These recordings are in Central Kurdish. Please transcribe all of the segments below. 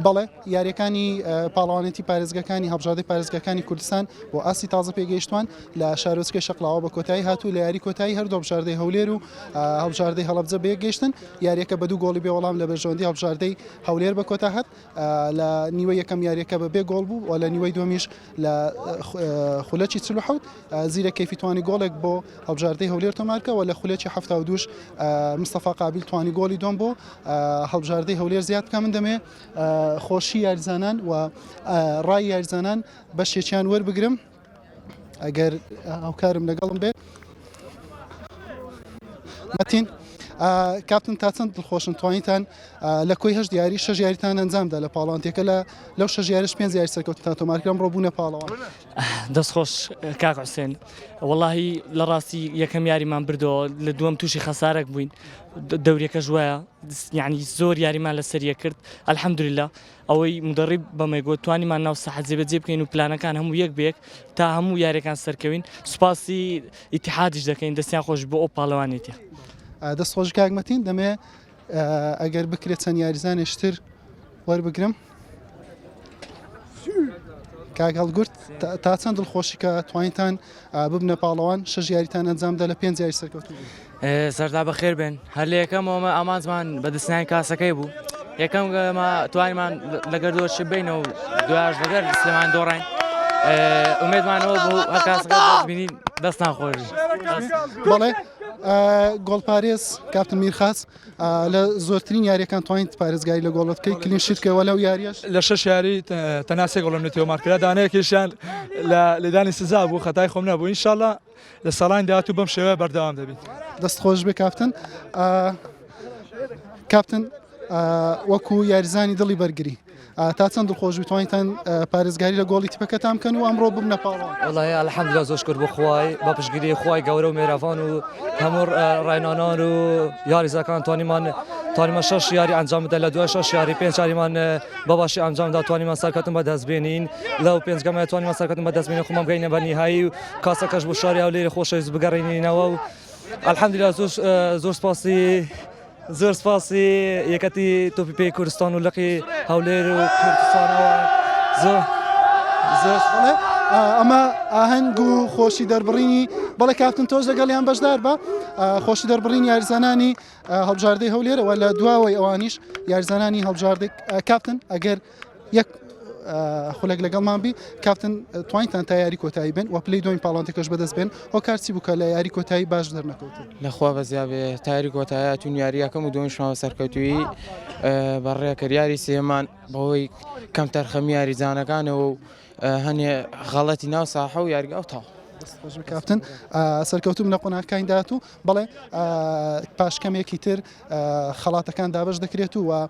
بەڵێ یاریەکانی پاڵەوانێتی پارێزگەکانی هەڵبژادی پارێزگەکانی کوردستان بۆ ئاسی تازە پێگەیشتوان لە شارۆچکە شەقلاوە بە کۆتایی هاتوو لە یاری کۆتایی هەردوو هەڵبژاردەی هەولێر و هەڵبژاردەی هەڵبجە بێگەشتن یاریەکە بە دوو گۆڵی بێ وەڵام لە بەرژەوەندی هەڵبژاردەی هەولێر بە کۆتا هات لە نیوە یەکەم یاریەکە بە بێ گۆڵ بوو و لە نیوەی دومیش لە خولەکی چل و حەوت زیرە کەیفی توانی گۆڵێک بۆ هەڵبژاردەی هەولێر تۆمارکە و لە خولەکی هەفتا و دووش مستەفا قابیل توانی گۆڵی دوم بۆ هەڵبژاردەی هەولێر زیاد بکە من دەمێ خۆشی یاریزانان و ڕای یاریزانان بەشێکیان وەربگرم ئەگەر هاوکارم لەگەڵم بێت مەتین کاپتن تا چەند دڵخۆشن توانیتان لە کۆی هەش دیاری شەژ یاریتان ئەنجامدا لە پاڵانتێکە لە لەو شەژ یاریش پێنج یاری سەرکەوتتان تۆمارکرم ڕۆبوونە پاڵەوە دەستخۆش کاک حوسێن وەڵی لە ڕاستی یەکەم یاریمان بردەوە لە دووەم تووشی خەسارێک بووین دەورەکەش وایە یعنی زۆر یاریمان لەسەریە کرد ئەلحەمدوریلا ئەوەی مودەڕیب بەمەی گوت توانیمان ناو ساحە جێبەجێ بکەین و پلانەکان هەموو یەک بە یەک تا هەموو یاریەکان سەرکەوین سوپاسی ئیتحادیش دەکەین دەستیان خۆش بۆ ئەو پاڵەوانێتە دەست خۆش کاکمەتین دەمێ ئەگەر بکرێت چەند یاریزانێشتر وەربگرم کاک هەڵگورت تا چەند دڵخۆشی کە توانیتان ببنە پاڵەوان شەش یاریتان ئەنجامدا لە پێنج یاری سەرکەوتوو بوون. سەرتا بەخێر بێن هەر لە یەکەمەوەمە ئامانجمان بەدەستنانی کاسەکەی بوو یەکەم گەمە توانمان لەگەر دۆش بینە و دوایش لەگەر سلێمان دۆڕین ئومێدمانەوە بوو هەر کاسەکە بینی دەستان خۆش بەڵێ گۆڵپارێز کاپتن میرخاس لە زۆرترین یاریەکان توانیت پارێزگاری لە گۆڵت بکەیت کلین شیت بکەوە لەو یاریەش لە شەش یاری تەنها سێ گۆڵم لە تێوەمار کرا دانەیەکیشیان لە لێدانی سزا بوو خەتای خۆم نەبوو ئینشااللە لە ساڵانی داهاتوو بەم شێوەیە بەردەوام دەبیت دەست خۆش بێ کاپتن کاپتن وەکو یاریزانی دڵی بەرگری تا چەند دڵخۆش بتوانیتان پارێزگاری لە گۆڵی تیپەکەتان بکەن و ئەمڕۆ ببنە پاڵەوان؟ وەڵاهی الحمدللە زۆر شوکر بۆ خوای بە پشتگیری خوای گەورە و مێراڤان و هەموو ڕاینانان و یاریزەکان توانیمان توانیمان شەش یاری ئەنجام بدەن لە دوای شەش یاری پێنج یاریمان بەباشی ئەنجام دا توانیمان سەرکەوتن بەدەست بێنین لەو پێنج گەمە توانیمان سەرکەوتن بەدەست بێنین خۆمان بگەینە بە نیهایی و کاسەکەش بۆ شاری هەولێری خۆشەویست بگەڕێنینەوە و الحمدللە زۆر زۆر سپاسی زۆر سپاس یەکەتی تۆپی پێی کوردستان و لقی هەولێر و کوردستانەوە زۆر زۆر بڵێ آه، ئەمە ئاهەنگ و خۆشی دەربڕینی بەڵێ کاپتن تۆش لەگەڵیان بەشدار بە آه، خۆشی دەربڕین یاریزانانی آه، هەڵبژاردەی هەولێرەوە لە دواوەی ئەوانیش یاریزانانی هەڵبژاردەی آه، کاپتن ئەگەر یەک خولێک لەگەڵمان بی کاپتن توانیتان تا یاری کۆتایی بن و پلی دوین پاڵانتەکەش بەدەست بێن ئەو کارچی بکە لە یاری کۆتایی باش دەرنەکەوت لەخوا بەزیابێ تاری کۆتایە تون یاریەکەم و دۆنیشمەوە سەرکەوتوی بەڕێکرد یاری سێمان بەوەی کەم تەرخەمی یاریزانەکانەوە و هەنێ غەڵەتی ناو ساحە و یاریگە ئەو تاو کاپتن سەرکەوتوم لە قۆناکانی داات و بڵێ پاشکەمێکی تر خەڵاتەکان دابش دەکرێت و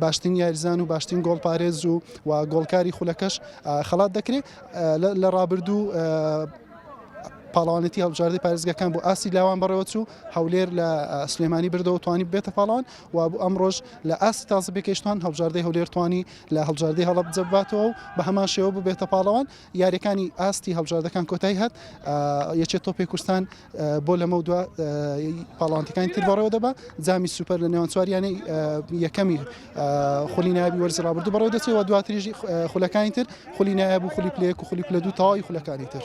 باشترین یاریزان و باشترین گۆڵپارێز و گۆڵکاری خولەکەش خەڵات دەکرێت لە ڕابردوو پاڵوانێتی هەڵبژاردەی پارێزگەکان بۆ ئاسی لاوان بەڕێوەچوو هەولێر لە سلێمانی بردەوە توانی بێتە پاڵان و بۆ ئەمڕۆژ لە ئاسی تازە بێکەشتان هەڵبژاردەی هەولێر توانی لە هەڵبژاردەی هەڵب جەباتەوە و بە هەمان شێوە ببێتە پاڵەوان یاریەکانی ئاستی هەڵبژاردەکان کۆتایی هات یەکێت تۆپی کوردستان بۆ لەمەودوا پاڵەوانتەکانی تر بەڕێوە دەبا جامی سوپەر لە نێوان چوار یانەی یەکەمی خولی نابی وەرزی ڕابردوو بەڕێوە دەچێت و دواتریژی خولەکانی تر خولی نایب و خولی پلەیەک و خولی پلە دوو تەواوی خولەکانی تر